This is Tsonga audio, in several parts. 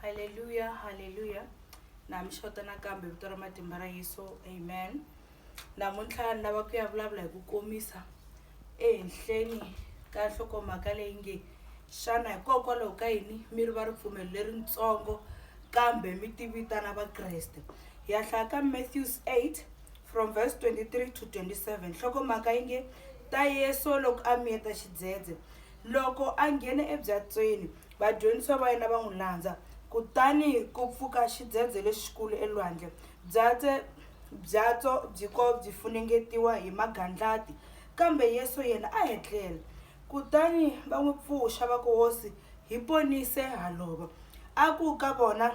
haleluya haleluya na mi xota nakambe vito ra matimba ra yesu amen namuntlha ni lava ku ya vulavula hi ku komisa ehenhleni ka nhlokomhaka leyi nge xana hikokwalaho ka yini mi ri va ripfumelo leritsongo kambe mi tivitana vakreste hi ya hlaya ka matthews 8 from verse 23 to 27 nhlokomhaka yi nge ta yesu loko a miyeta xidzedze loko a nghene ebyatsweni Vadyondzisiwa va yena va n'wi landza. Kutani ku pfuka xidzedze lexikulu elwandle. Byatse, byatso byi ko byi funengetiwa hi magandlati, kambe Yesu yena a etlela. Kutani va n'wi pfuxa va ku, Hosi, hi ponise ha lova. A ku ka vona,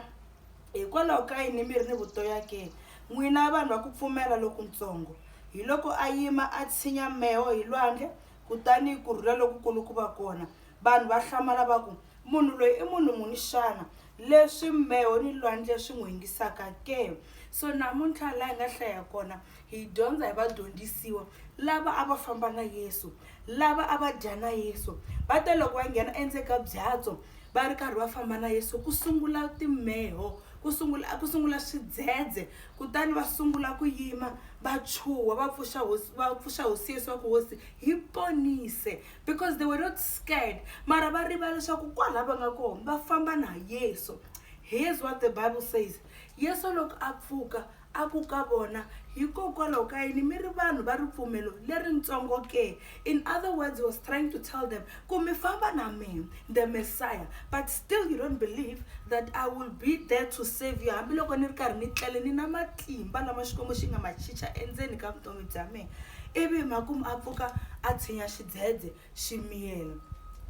Hikwalaho ka yini mi ri ni vutoya ke, n'wina vanhu va ku pfumela lokuntsongo? Hiloko a yima a tshinya meho hi lwandle, kutani ku rhula lokukulu ku va kona. Vanhu va hlamala va ku, Munhu loyi i munhu muni xana, leswi mbeho ni lwandle swi n'wi yingisaka ke? So namuntlha laha hi nga hlaya kona, hi dyondza hi vadyondzisiwa lava a va famba na Yesu, lava a va dya na Yesu. Va te loko va nghena endzeni ka byatso va ri karhi va famba na Yesu, ku sungula timbeho, ku sungula ku sungula swidzedze, kutani va sungula ku yima va chuha, va pfuxa hosi va pfuxa hosi Yesu va ku, Hosi hi ponise! because they were not scared mara va riva leswaku kwala va nga kona va famba na yesu here's what the bible says yesu loko a pfuka a ku ka vona hikokwalaho ka yini mi ri vanhu va ripfumelo leritsongo ke in other words was trying to tell them ku mi famba na mina the messiah but still you don't believe that i will be there to save you hambiloko ni ri karhi ni tlele ni na matimba lama xikwembu xi nga ma chicha endzeni ka vutomi bya mina ivi makumu a pfuka a tshinya xidzedze xi miyela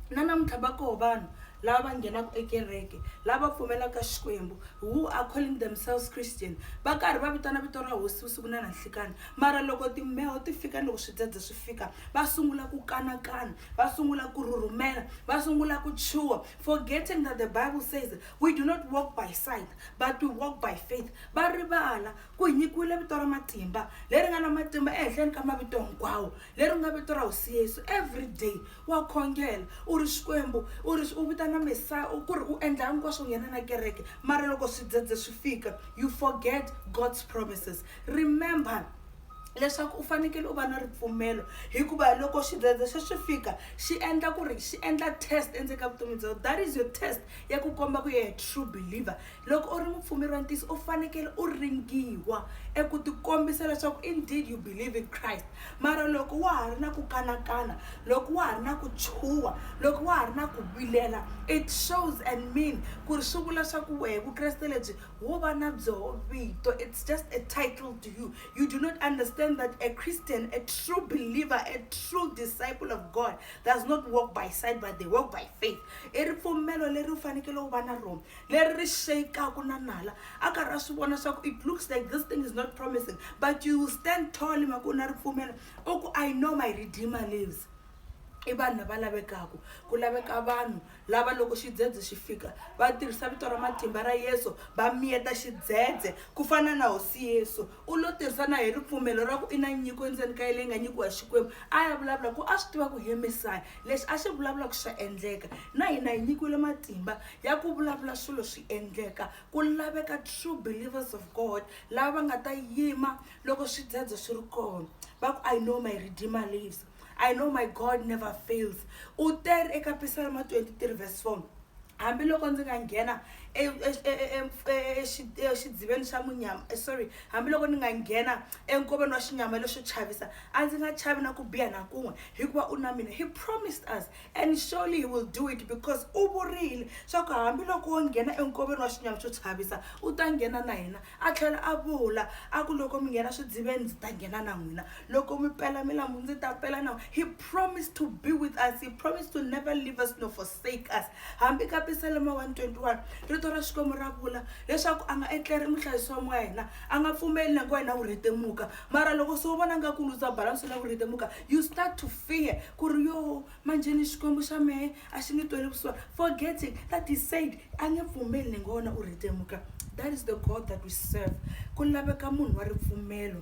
na namuntlha va koho vanhu lava va nghenaka ekereke lava pfumelaka xikwembu who are calling themselves christian va karhi va vitana vito ra hosi vusiku na nanhlikani mara loko timbeho ti fika ni loko swidzedze swi fika va sungula ku kanakana va sungula ku rhurhumela va sungula ku chuha forgetting that the bible says we do not walk by sight but we walk by faith va rivala ku hi nyikiwile vito ra matimba leri nga na matimba ehenhleni ka mavito hinkwawo leri nga vito ra hosi yesu every day wa khongela u ri xikwembu u ri u vitana mesaya ku ri u endla hinkwaswo nghena na kereke mara loko swidzedze swi fika you forget god's promises remember leswaku u fanekele u va na ripfumelo hikuva loko xidzedze se swi fika xi endla ku ri xi endla test endzeni ka vutomi bya wena that is your test ya ku komba ku yehe true believer loko u ri mupfumeri wa ntiyiso u fanekele u ringiwa eku tikombisa leswaku indeed you believe in christ mara loko wa ha ri na ku kanakana loko wa ha ri na ku chuha loko wa ha ri na ku vilela it shows and mean ku ri swi vula swa ku wehe vukreste lebyi wo va na byoho vito it's just a title to you you do not understand that a christian a true believer a true disciple of god does not walk by sight but they walk by faith i ripfumelo leri u fanekele u va na rona leri ri sheyikaku na nala a karhi a swi vona swa ku it looks like this thing is not promising but you will stand tall hi mhaka u na ripfumelo u ku i know my redeemer lives i vanhu lava lavekaka ku laveka vanhu Lava loko xidzedze xi fika va tirhisa vito ra matimba ra Yesu va miyeta xidzedze. Ku fana na Hosi Yesu, u lo tirhisana hi ripfumelo ra ku i na nyiko endzeni ka ye leyi nga nyikiwa hi Xikwembu. A ya vulavula ku a swi tiva ku hi Mesaya, lexi a xi vulavulaka xa endleka. Na hina hi nyikiwile matimba ya ku vulavula swilo swi endleka. Ku laveka true believers of God lava va nga ta yima loko swidzedze swi ri kona va ku, I know my Redeemer lives. i know my god never fails u teri eka pisalma 23 verse 4 hambiloko ndzi nga nghena exidziveni xa munyama eh, sorry hambiloko ni nga nghena enkoveni wa xinyama lexo chavisa a ndzi nga chavi na ku biha na kun'we hikuva u na mina he promised us And surely he will do it because u vurile swa ku hambiloko wo nghena enkoveni wa xinyama xo chavisa u ta nghena na hina a tlhela a vula a ku loko mi nghena swidziveni ndzi ta nghena na n'wina loko mi pela milambu ndzi ta pela na he promised to be with us he promised to never leave us no forsake us hambi ka pisalema 121 rito ra xikwembu ra vula leswaku a nga etleri muhlayisi wa moya hina a nga pfumeli na ku wena u rhetemuka mara loko se u vona nga ku lutsa balansi la ku rhetemuka you start to fear ku ri yo manjheni xikwembu xa mehe a xi nge tweli vusiwa forgetting that he said a nge pfumeli ni nga wona u ritemuka that is the god that we serve ku laveka munhu wa ripfumelo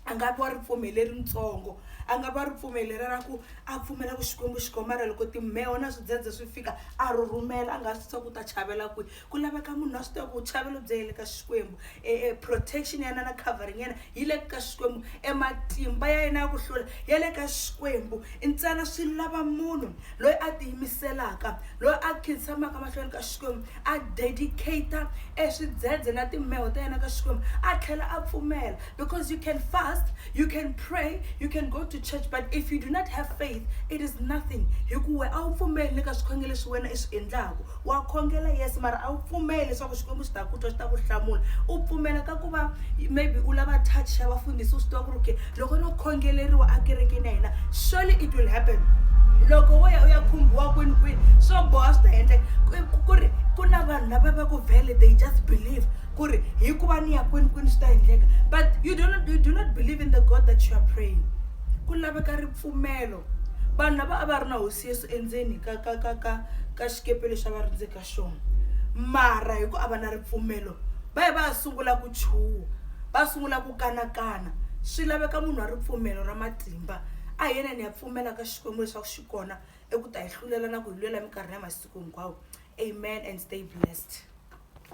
a nga vi wa ripfumelo leritsongo a nga va ripfumelo lera ra ku a pfumela ku xikwembu xi komara loko timheho na swidzedze swi fika a ri rhumela a nga swi swa ku ta chavela kwihi ku laveka munhu a swi tiva ku vuchavelo byi yele ka xikwembu e, e protection ya yena na covering ya yena yi le ka xikwembu ematimba ya yena ya ku hlula ya le ka xikwembu ntsena swi lava munhu loyi a tiyimiselaka loyi a khinsamaka mahlweni ka xikwembu a dedicata e swidzedze na timheho ta yena ka xikwembu a tlhela a pfumela because you can fast you can pray you can go to church but if you do not have faith it is nothing hikuwe a wu pfumeli ni ka swikhongelo leswi wena i swi endlaku Wa khongela yes mara a wu pfumeli leswaku xikwembu xi ta ku twa xi ta ku hlamula u pfumela ka ku va maybe u lava touch ya vafundhisi u swi tiva ku ri ke loko no khongeleriwa ekerekeni ya hina surely it will happen loko wo ya u ya khumbiwa kwini kwini swo boha swi ta endleka Ku- ku ri ku na vanhu lava va ku vele they just believe ku ri hi ku va ni ya kwini kwini swi ta endleka but you do not, you do not believe in the god that you are praying ku laveka ripfumelo vanhu lava a va ri na hosi Yesu Yesu endzeni ka ka ka ka ka xikepe lexi a va ri ndzeni ka xona mara hi ku a va na ripfumelo va ye va ya sungula ku chuha va sungula ku kanakana swi laveka munhu wa ripfumelo ra matimba a hi yena ni ya pfumela ka xikwembu leswaku xi kona eku ta hi hlulela na ku hi lwela minkarhi ya masiku hinkwawo amen and stay blessed